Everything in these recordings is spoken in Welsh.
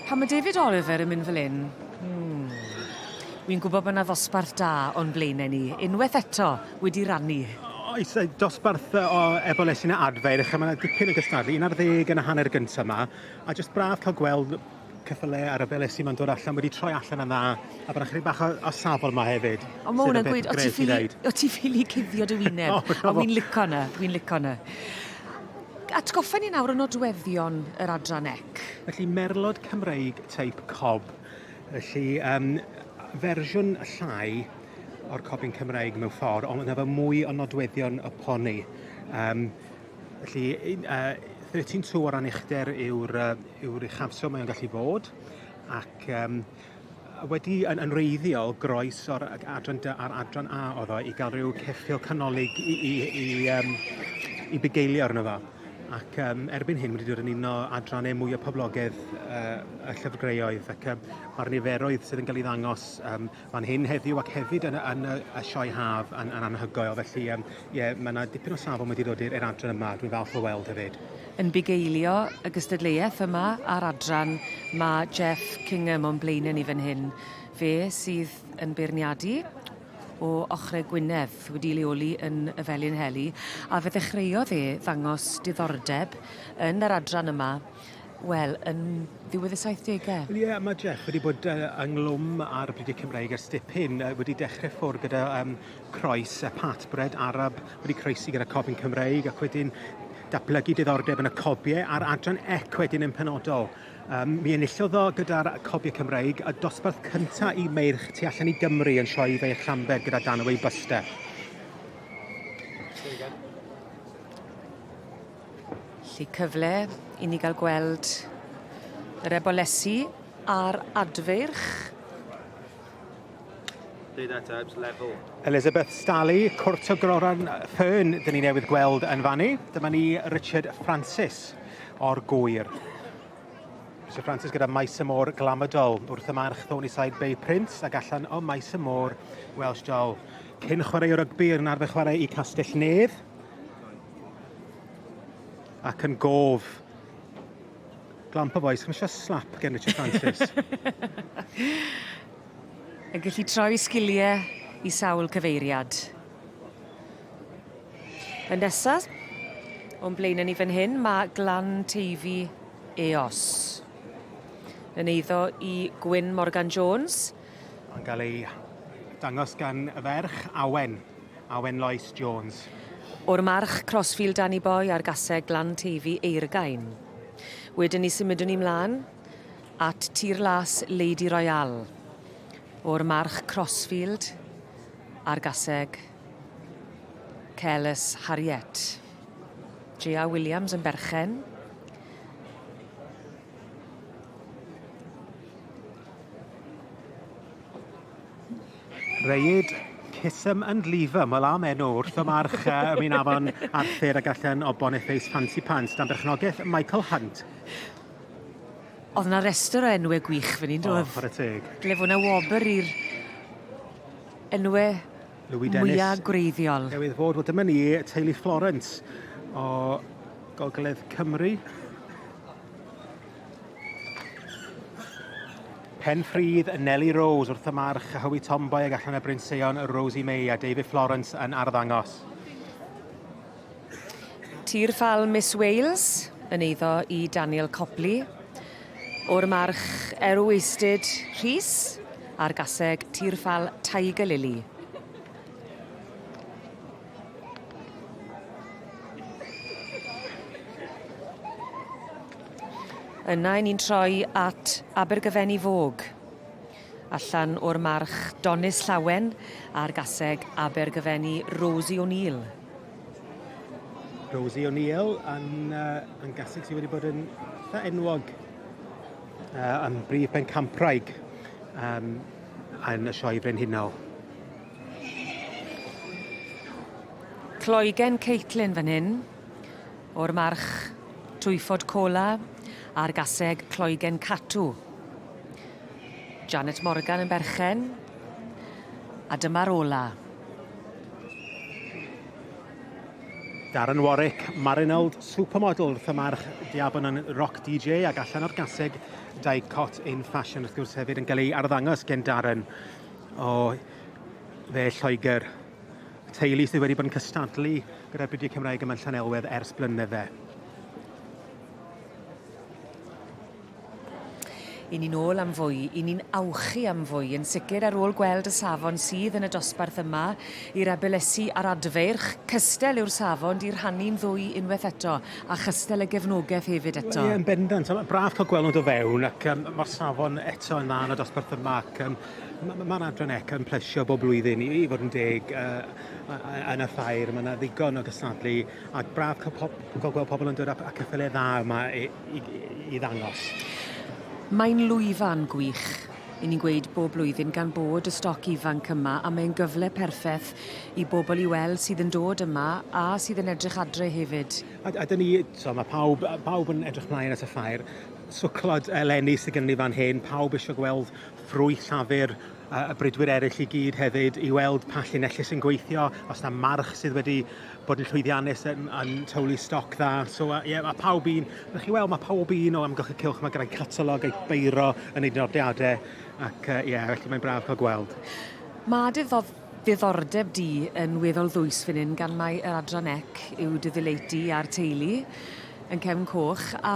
Pan ma' David Oliver yn mynd fel 'yn, hmm, wi'n gwbo bo' 'na ddosbarth da o'n blaene ni, unweth eto, wedi rannu. Oes, yy dosbarth yy o Ebol es i 'na adfer a ma' 'na dipyn o gystadlu, un ar ddeg yn y hanner gynta 'ma, a jyst braf ca'l gweld ceffyle a rhyfele sy 'ma'n dod allan wedi troi allan yn dda, a bo' 'na chydig bach o o safon 'ma hefyd. O ma' wnna'n gweud o ti ffili o ti ffili cuddio dy wyneb. O na fo. O fi'n lico 'na, fi'n lico 'na. Atgoffa ni nawr o nodweddion yr adran ec. Felly, merlod Cymreig teip cob. Felly, um, fersiwn llai o'r cobyn Cymreig mewn ffordd, ond efo mwy o nodweddion y poni. Um, felly, uh, 13.2 o ran uchder yw'r uh, yw uchafswm mae'n gallu fod, ac um, wedi yn, yn reiddiol groes o'r adran dy a'r adran A oedd o i gael rhyw ceffil canolig i, i, i, um, i bugeilio arno fo. Ac um, erbyn hyn wedi dod yn un o adrannau mwy o poblogaidd uh, y llyfrgreoedd ac um, mae'r niferoedd sydd yn cael ei ddangos um, fan hyn heddiw ac hefyd yn, yn, yn y sioe haf yn, yn anhygoel. Felly um, Ie, mae yna dipyn o safon wedi dod i'r adran yma, dwi'n falch o weld hefyd. Yn bugeilio y gystadleuaeth yma a'r adran, mae Jeff Kingham o'n blaenau ni fan hyn. Fe sydd yn beirniadu o ochrau Gwynedd, wedi leoli yn y Felinheli, a fe ddechreuodd e ddangos diddordeb yn yr adran yma, wel, yn ddiwedd y saithdegau. Wel ie, mae Jeff wedi bod uh, ynghlwm ar y Bridiau Cymraeg ers dipyn, uh, wedi dechrau ffwrdd gyda um, croes y pat bred arab wedi croesi gyda Cofn Cymreig ac wedyn datblygu diddordeb yn y cobiau a'r adran ec wedyn yn penodol. Um, mi enillodd o gyda'r cobiau Cymreig a dosbarth cyntaf i meirch tu allan i Gymru yn sioe fe eich Lambed gyda dan y wei byste. Lly cyfle i ni gael gweld yr ebolesi a'r adfeirch. Play that out, level. Elizabeth Stally, Cwrt o Groran Fern, dyn ni newydd gweld yn fannu. Dyma ni Richard Francis o'r gwyr. Richard Francis gyda maes y môr glamadol wrth y march Thorny Side Bay Prince ac allan o maes y môr Welsh Doll. Cyn chwarae o rygbi yn arfer chwarae i Castell Nedd ac yn gof Glampa boys, chi'n eisiau slap gen Richard Francis? Yn gallu troi sgiliau i sawl cyfeiriad. Y nesaf, o'n blaen yn ni fan hyn, mae Glan Teifi Eos. Yn eiddo i Gwyn Morgan Jones. Yn cael ei dangos gan y ferch, Awen. a wen Lois Jones. O'r March, Crossfield Danny Boy a'r Gaseg Glan Teifi Eirgain. Wedyn ni symudwn ni mlaen at Tir Las Lady Royale. O'r March, Crossfield a'r Gaseg Careless Harriet. J.A. Williams yn berchen. Reid, Kisum and Lever, mae am enw wrth y march uh, ymwneud afon Arthur a gallen obon effeis Fancy Pants dan berchnogaeth Michael Hunt. Oedd yna restr o enwau gwych fan hyn, doedd? O, y teg. Ble fod yna wobr i'r enwau mwyaf gwreiddiol. Newydd fod, wel dyma ni, teulu Florence o Gogledd Cymru. Penfryd, Nellie Rose wrth y march, a Hywi Tomboy ag allan y Bryn Seion, Rosie May a David Florence yn arddangos. Tir ffal Miss Wales yn eiddo i Daniel Copley. O'r march Erw Eistyd Rhys a'r gaseg tir ffal Tiger Lily. Yna i ni'n troi at Abergyfenni Fog. Allan o'r march Donis Llawen a'r gaseg Abergyfenni Rosie O'Neill. Rosie O'Neill yn, uh, yn gaseg sydd wedi bod yn eitha enwog uh, yn brif ben campraig um, yn y sioe brenhinol. Cloigen Caitlin fan hyn, o'r march Twyfod Cola a'r gaseg Cloigen Catw. Janet Morgan yn berchen. A dyma'r ola. Darren Warwick, Marinald, supermodel wrth y march Diabon yn rock DJ ac allan o'r gaseg Dai Cot in Fashion wrth gwrs hefyd yn cael ei arddangos gen Darren. O, dde Lloegr. Teulu sydd wedi bod yn cystadlu gyda'r Brydiau Cymraeg yma yn Llanelwedd ers blynydde. I ni'n ôl am fwy, i ni'n awchu am fwy, yn sicr ar ôl gweld y safon sydd yn y dosbarth yma i'r Abelesi a'r Adfeirch. Cystel yw'r safon, di rhannu'n ddwy unwaith eto, a chystel y gefnogaeth hefyd eto. Ie, yn bendant. Braf cael gwelwnt o fewn ac um, mae'r safon eto yn dda yn y dosbarth yma ac um, Mae ma, ma Adran Eca yn plesio bob blwyddyn i, i fod yn deg uh, yn y ffair. Mae yna ddigon o gystadlu a braf cael pob, gweld pobl yn dod â ceffylau dda yma i, i, i ddangos. Mae'n lwyfan gwych. I ni'n gweud bob blwyddyn gan bod y stoc ifanc yma a mae'n gyfle perffaith i bobl i weld sydd yn dod yma a sydd yn edrych adre hefyd. A, a dyn ni, so, mae pawb, pawb yn edrych mlaen at y ffair. Swclod eleni sydd gen ni fan hyn, pawb eisiau gweld thrwy Llafur y bridwyr eraill i gyd hefyd i weld pa llinellau sy'n gweithio, os na march sydd wedi bod yn llwyddiannus yn, yn tywlu stoc dda. So, uh, yeah, mae pawb un, rydych chi weld, mae pawb un o amgylch y cylch, mae gyda'i catalog, ei beiro yn ei nodiadau, ac uh, yeah, felly mae'n braf cael gweld. Mae dy Diddordeb di yn weddol ddwys fan hyn gan mai yr adran ec yw dy ddilate di a'r teulu yn Cefn Coch a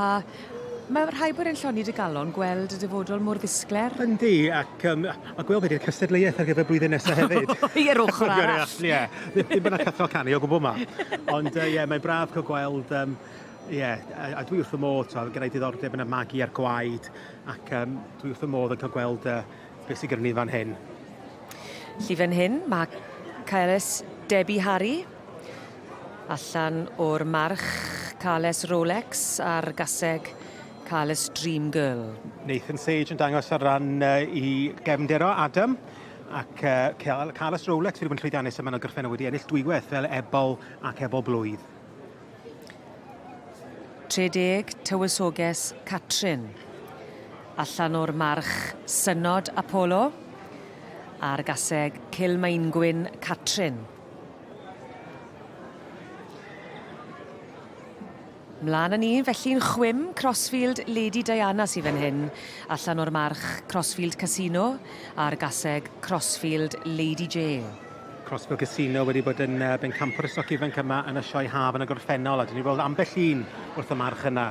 mae rhai bod e'n lloni dy galon gweld y dyfodol mor ddisglair. Yndi ac yym a gweld be di'r cystadleuaeth ar gyfer y blwyddyn nesa hefyd. O ie yr ochr arall. Ie ddim bod 'na cyffro canu o gwbwl 'ma. Ond yy ie mae'n braf cael gweld yym ie a, a dwi wrth fy modd t'wod gennai diddordeb yn y magu a'r gwaed ac yym dwi wrth fy modd yn cael gweld y Beth sydd gyda ni fan hyn? Felly fan hyn ma' Cales Debbie Harry allan o'r march Cales Rolex a'r gaseg Cales Dream Girl. Nathan Sage yn dangos ar ran uh, i gefnder o Adam ac uh, Cales Rolex wedi bod yn llwyddiannus yma yn ogyrchfenna wedi ennill dwywaith fel ebol ac ebol blwydd. 30, Tywysoges Catrin, allan o'r march Synod Apolo, a'r gaseg Cilmaengwyn Catrin. Mlaen â ni, felly'n chwim Crossfield Lady Diana sydd fan hyn, allan o'r march Crossfield Casino, a'r gaseg Crossfield Lady Jane. Crossbill Casino wedi bod yn uh, bencampwr y stoc ifanc yma yn y sioe haf yn y gorffennol, a dyn ni weld ambell un wrth y march yna.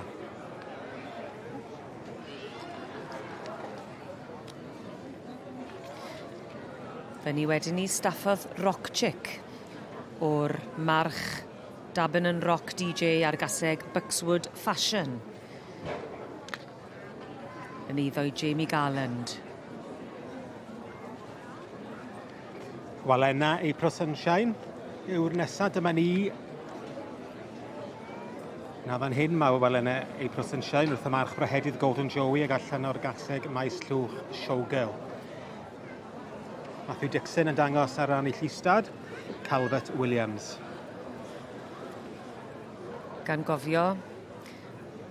Fe ni wedi ni staffodd Rock Chick o'r march Dabin yn Rock DJ ar gaseg Buxwood Fashion. Yn eiddo i Jamie Garland. Wel enna April Sunshine yw'r nesaf, dyma ni. Na fan hyn mae wel enna April Sunshine wrth y march brahedydd Golden Joey ag allan o'r gaseg maes llwch Showgirl. Matthew Dixon yn dangos ar ran ei llistad, Calvert Williams. Gan gofio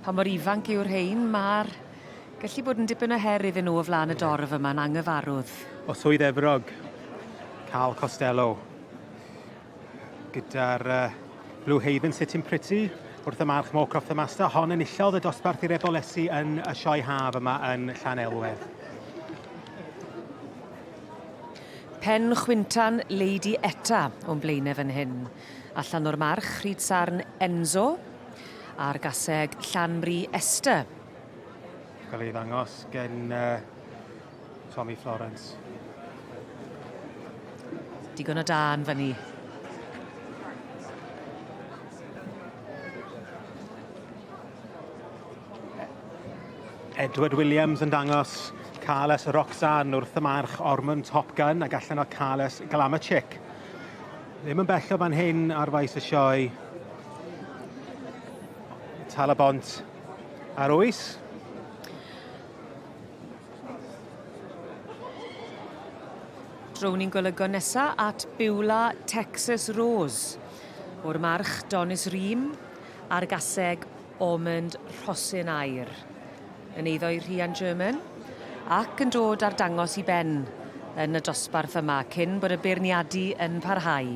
Pa mor ifanc yw'r rhein? Ma'r gallu bod yn dipyn o her iddyn nhw o flan y dorf yma'n angyfarwdd. O Swydd Efrog, Carl Costello, gyda'r uh, Blue Haven Sitting Pretty, wrth y man Smoke Off the Master, hon yn illodd y dosbarth i'r ebolesi yn y sioe haf yma yn Llan Elwedd. Pen chwyntan Lady Etta o'n blaenau fan hyn. Allan o'r March, Rhyd Sarn Enzo, a'r gaseg Llanmri Esther. Cael ei ddangos gen uh, Tommy Florence. Digon o dan fyny. Edward Williams yn dangos Carlos Roxanne wrth y march Ormond Top Gun ac allan o Carlos Glamachick. Ddim yn bell o fan hyn ar faes y sioe. Tal y bont ar oes. Drwn ni'n golygo nesa at Biwla Texas Rose o'r march Donis Ream a'r gaseg Ormond Rhosyn Aur. Yn eiddo'i rhian German ac yn dod ar dangos i ben yn y dosbarth yma cyn bod y beirniadu yn parhau.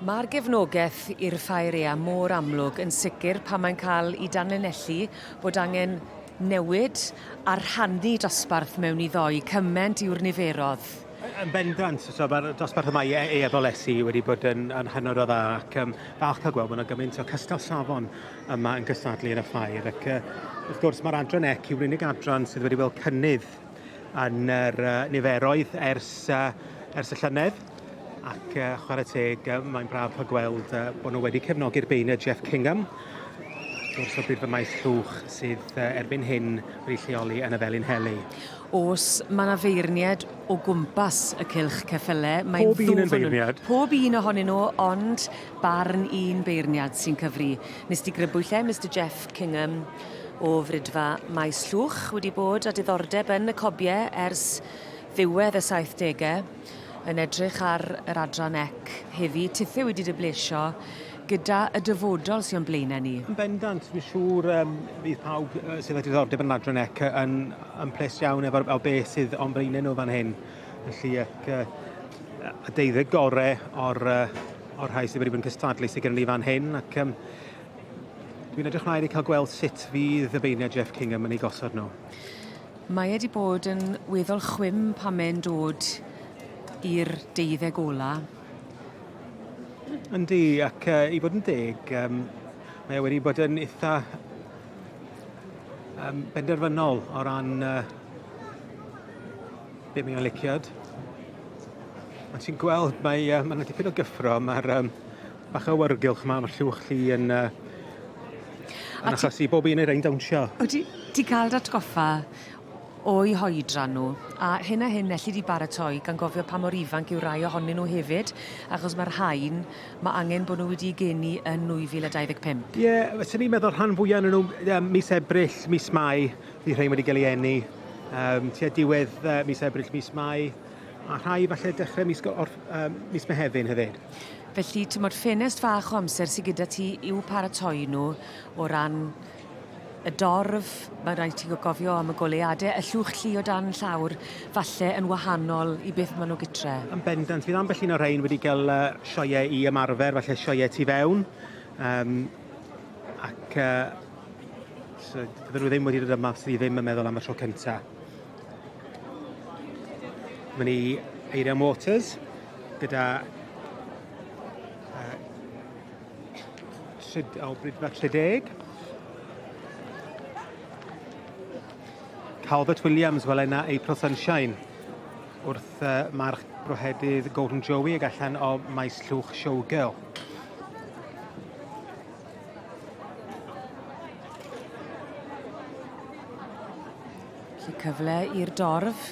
Mae'r gefnogaeth i'r Ffaerea mor amlwg yn sicr pan mae'n cael i danlinellu bod angen newid a rhannu dosbarth mewn i ddoi, cyment yw'r niferodd. Yn bendant, so mae'r dosbarth yma i e- e wedi bod yn, yn hynod o dda ac um, falch cael gweld bod yna gymaint o cystal safon yma yn gystadlu yn y ffair ac uh, wrth gwrs mae'r adran ec yw'r unig adran sydd wedi weld cynnydd yn yr uh, niferoedd ers, uh, ers y llynedd ac uh, chwarae teg uh, mae'n braf cael gweld uh, bod nhw wedi cefnogi'r beunau Jeff Kingham wrth gwrs bydd y maes llwch sydd uh, erbyn hyn wedi lleoli yn y Felin Heli. Os mae yna feirniad o gwmpas y cilch ceffylau, mae'n ddwfn. Pob un yn feirniad. Pob un ohonyn nhw, ond Barn un beirniad sy'n cyfri. Nes di grybwyll lle Mister Jeff Kingham o Frydfa Maes Llwch wedi bod a diddordeb yn y cobie ers ddiwedd y 70au yn edrych ar yr adran ec heddi tithe wedi dy blesio gyda y dyfodol sy'n o'n blaenau ni. Yn bendant, fi'n siŵr um, bydd pawb uh, sydd â diddordeb yn yr adran ec yn, yn ples iawn efo, efo beth sydd o'n blaenau nhw fan hyn. Felly ac, uh, y deuddeg gore o'r, uh, o'r rhai sydd wedi bod yn cystadlu sydd gen ni fan hyn ac um, dwi'n edrych mlaen i cael gweld sut fydd y beiniau Jeff Kingham yn ei gosod nhw. Mae wedi bod yn weddol chwim pan mae'n dod i'r deuddeg ola. Yndi, ac uh, i fod yn deg, um, mae wedi bod yn eitha um, benderfynol o ran uh, Be mae'n liciad? Ond ti'n gweld, mae yna ma dipyn o gyffro, mae'r um, bach o wargylch yma, mae'r llwch chi yn... Uh, yn achos i bob un ei rein dawnsio. O, ti, ti cael datgoffa o'i hoedran nhw, a hyn a hyn elli di baratoi gan gofio pa mor ifanc yw rai ohonyn nhw hefyd, achos mae'r rhain, mae angen bod nhw wedi geni yn 2025. Ie, yeah, fyswn i'n meddwl rhan fwyaf yn nhw um, mis Ebrill, mis Mai, Bydd rhai wedi cael ei eni um, tua diwedd uh, mis Ebrill, mis Mai, a rhai falle dechrau mis, or, um, mis Mehefin hefyd. Felly, ti'n modd ffenest fach o amser sy'n gyda ti i'w paratoi nhw o ran y dorf, mae rhaid ti gofio am y goleuadau, y llwch llu o dan llawr, falle yn wahanol i beth maen nhw gytre. Yn bendant, fydd ambell un o'r rhain wedi cael uh, sioiau i ymarfer, falle sioiau tu fewn, um, ac uh, So, fydden nhw ddim wedi dod yma os ni ddim yn meddwl am y tro cynta. Mae ni Eirian Waters gyda uh, tryd, o, Brydfa 30. Calvert Williams, wel yna April Sunshine wrth uh, march brohedydd Golden Joey ag allan o maes llwch Showgirl. Felly cyfle i'r dorf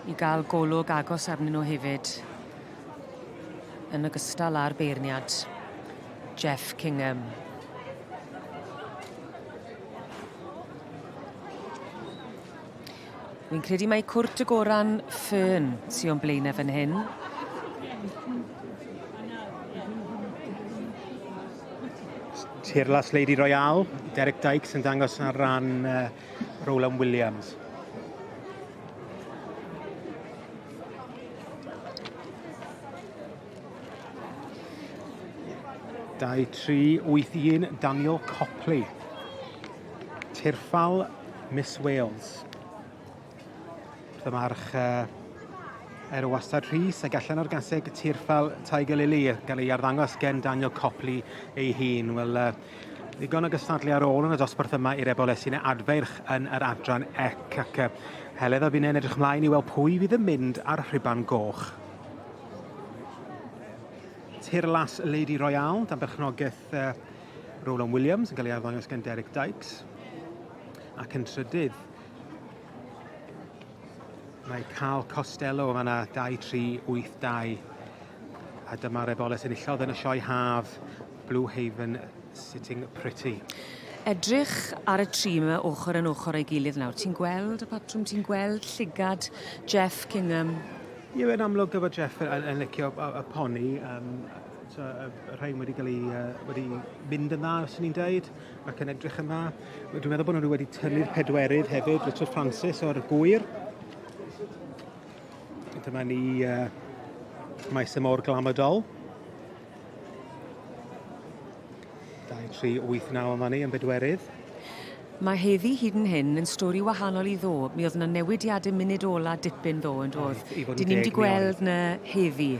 i gael golwg agos arnyn nhw hefyd. Yn ogystal â'r beirniad, Jeff Kingham. Wi'n credu mai cwrt y goran ffyrn sy o'n blaen e fan hyn. Tirlas Lady Royale, Derek Dykes yn dangos ar ran uh, Roland Williams. 2381 Daniel Copley. Tirffal Miss Wales. Dymarch uh, er o wastad Rhys ac allan o'r gaseg tirffal Tiger Lily gael ei arddangos gen Daniel Copley ei hun. Wel, uh, ddigon o gystadlu ar ôl yn y dosbarth yma i'r ebol sy'n adferch yn yr adran ec ac uh, Heledd a fi'n edrych ymlaen i weld pwy fydd yn mynd ar rhuban goch. Tirlais Lady Royale, dan berchnogaeth uh, Roland Williams, yn cael ei arddangos gan Derek Dykes. Ac yn trydydd, mae Carl Costello fan 2382 a dyma'r eboles enillodd yn y sioe haf Blue Haven Sitting Pretty. Edrych ar y tri yma ochr yn ochr ei gilydd nawr. Ti'n gweld y patrwm, ti'n gweld llygad Jeff Kingham? Ie, yn amlwg gyda Jeff yn, yn, yn licio y, y poni, um, so, y, y rhain wedi cael ei, uh, wedi mynd yn dda, os ni'n dweud, ac yn edrych yn dda. Dwi'n meddwl bod nhw wedi tynnu'r pedwerydd hefyd, Richard Francis o'r gwyr. Dyma ni uh, maes y môr glamodol. 9 yma ni yn bedwerydd. Mae heddi hyd yn hyn yn stori wahanol i ddo. Mi oedd yna newidiadau munud ola dipyn ddo yn doedd. Dyn ni'n di gweld na heddi.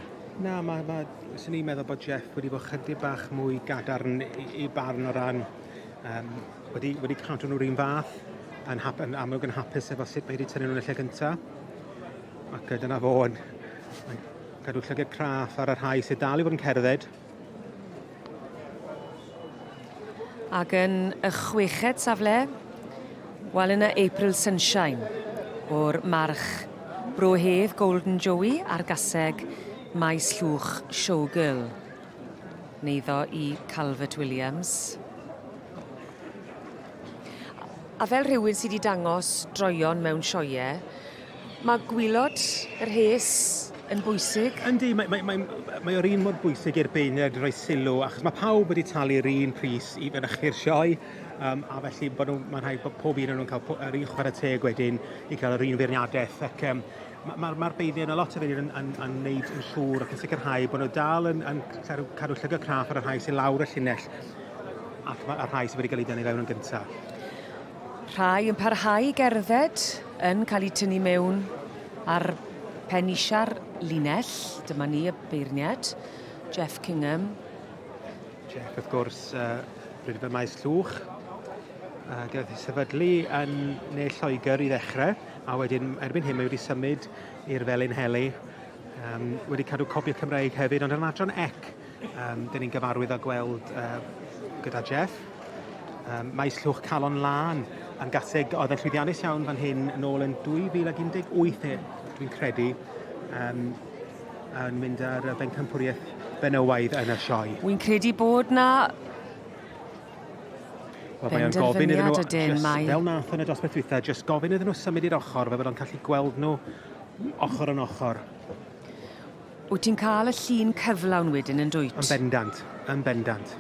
Na, mae, ma, sy'n ni'n meddwl bod Jeff wedi bod chydig bach mwy gadarn i, i barn o ran um, wedi, wedi cadw nhw'r un fath yn, hap, yn amlwg yn hapus efo sut mae wedi tynnu nhw'n y lle cyntaf. Ac dyna fo yn, yn Cadw llygad craff ar y rhai sydd dal i fod yn cerdded. Ac yn y chweched safle, wel yna April Sunshine o'r march Bro Hedd, Golden Joey a'r gaseg Maes Llwch Showgirl. Neiddo i Calvert Williams. A fel rhywun sydd wedi dangos droion mewn sioiau, Mae gwylod y rhes yn bwysig. Yndi, mae, mae, mae, mae o'r un mor bwysig i'r beuned roi sylw, achos mae pawb wedi talu'r un pris i fynychu'r sioe, um, a felly bod nhw, mae'n rhaid bod pob un o'n nhw'n cael po, yr un chwarae teg wedyn i cael yr un feirniadaeth. Ac um, mae'r ma, ma beuned, mae lot o beuned yn, yn, yn, yn neud yn siŵr ac yn sicrhau bod nhw dal yn, yn cadw, cadw llygau craff ar y rhai sy'n lawr y llinell ac mae'r rhai sydd wedi cael ei dynnu fewn yn gyntaf. Rhai yn parhau i gerdded, yn cael eu tynnu mewn ar pen isiau'r linell. Dyma ni y beirniad, Jeff Kingham. Jeff, wrth gwrs, uh, bryd y maes llwch. Uh, gath ei sefydlu yn Ne Lloegr i ddechrau, a wedyn erbyn hyn mae wedi symud i'r Felin Heli. Um, wedi cadw copiau Cymraeg hefyd, ond yn adran ec, Yym, dyn ni'n gyfarwydd â gweld yy gyda Jeff, yym, maes llwch calon lân yn gaseg oedd yn llwyddiannus iawn fan hyn yn ôl yn 2018 e, dwi'n credu, yym, yn mynd ar y bencampwriaeth benywaidd yn y sioe. Wy'n credu bod na Wel, mae o'n gofyn iddyn nhw, ydyn, just, mae... fel nath yn y dosbarth dwytha, just gofyn iddyn nhw symud i'r ochr, fe fydd o'n gallu gweld nhw ochr yn ochr. Wyt ti'n cael y llun cyflawn wedyn yn dwyt? Yn bendant, yn bendant.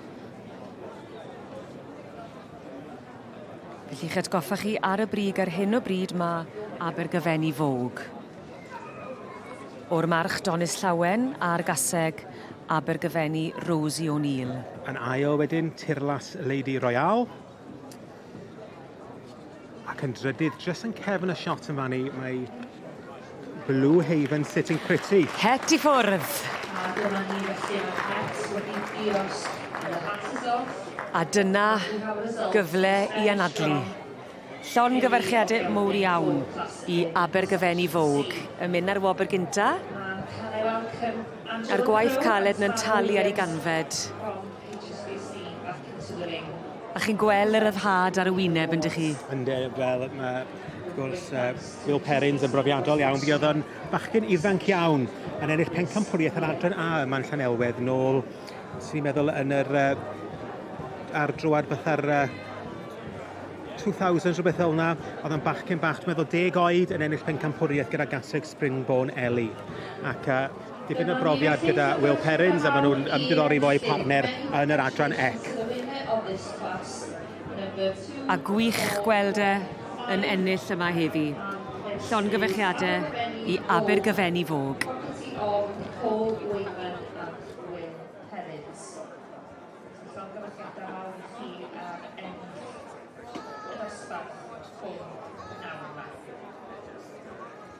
Felly, i'ch atgoffa chi ar y brig, ar hyn o bryd mae Abergaven i fowg. O'r march Donis Llawen a'r gaseg Abergafeni Rosie O'Neill. Yn ail wedyn, Tirlas Lady Royale. Ac yn drydydd, just yn cefn y shot yn fan i, mae Blue Haven sitting pretty. Het i ffwrdd. A dyna gyfle i anadlu. Llon gyfarchiade mowr iawn i Abergyfeni Fowg yn mynd ar wobr gynta. A'r gwaith caled na'n talu ar ei ganfed. A chi'n gwel y ryddhad ar y wyneb yndych chi? Ynde, wel ma' wrth gwrs yy Will Perrins yn brofiadol iawn. Mi o'dd o'n bachgyn ifanc iawn yn ennill pencampwriaeth yr Adran A yma yn Llanelwedd nôl swn i'n meddwl yn yr yy ar droad fatha'r yy 2000s rhywbeth fel 'na. O'dd o'n bachgyn bach dwi'n meddwl deg oed yn ennill pencampwriaeth gyda Gatwick Springborn Ellie ac yy Dipyn o brofiad gyda Will Perrins a maen nhw'n ymddiddori fo eu partner yn yr adran ec. A gwych gweld e yn ennill yma heddi. Llongyfechiadau i Abergyfenni Fog.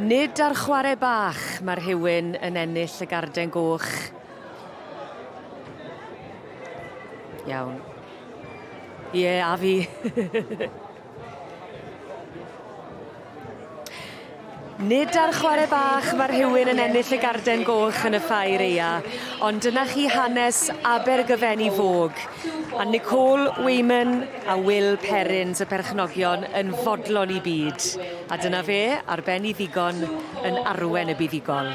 Nid ar chwarae bach mae rhywun yn ennill y garden goch. Iawn. Ie, yeah, a fi. Nid ar chwarae bach mae rhywun yn ennill y garden goch yn y Ffair Eia, ond dyna chi hanes Abergyfenni Vogue, a Nicole Weyman a Will Perrins y perchnogion yn fodlon i byd, a dyna fe, ar ben i ddigon, yn arwen y buddugol.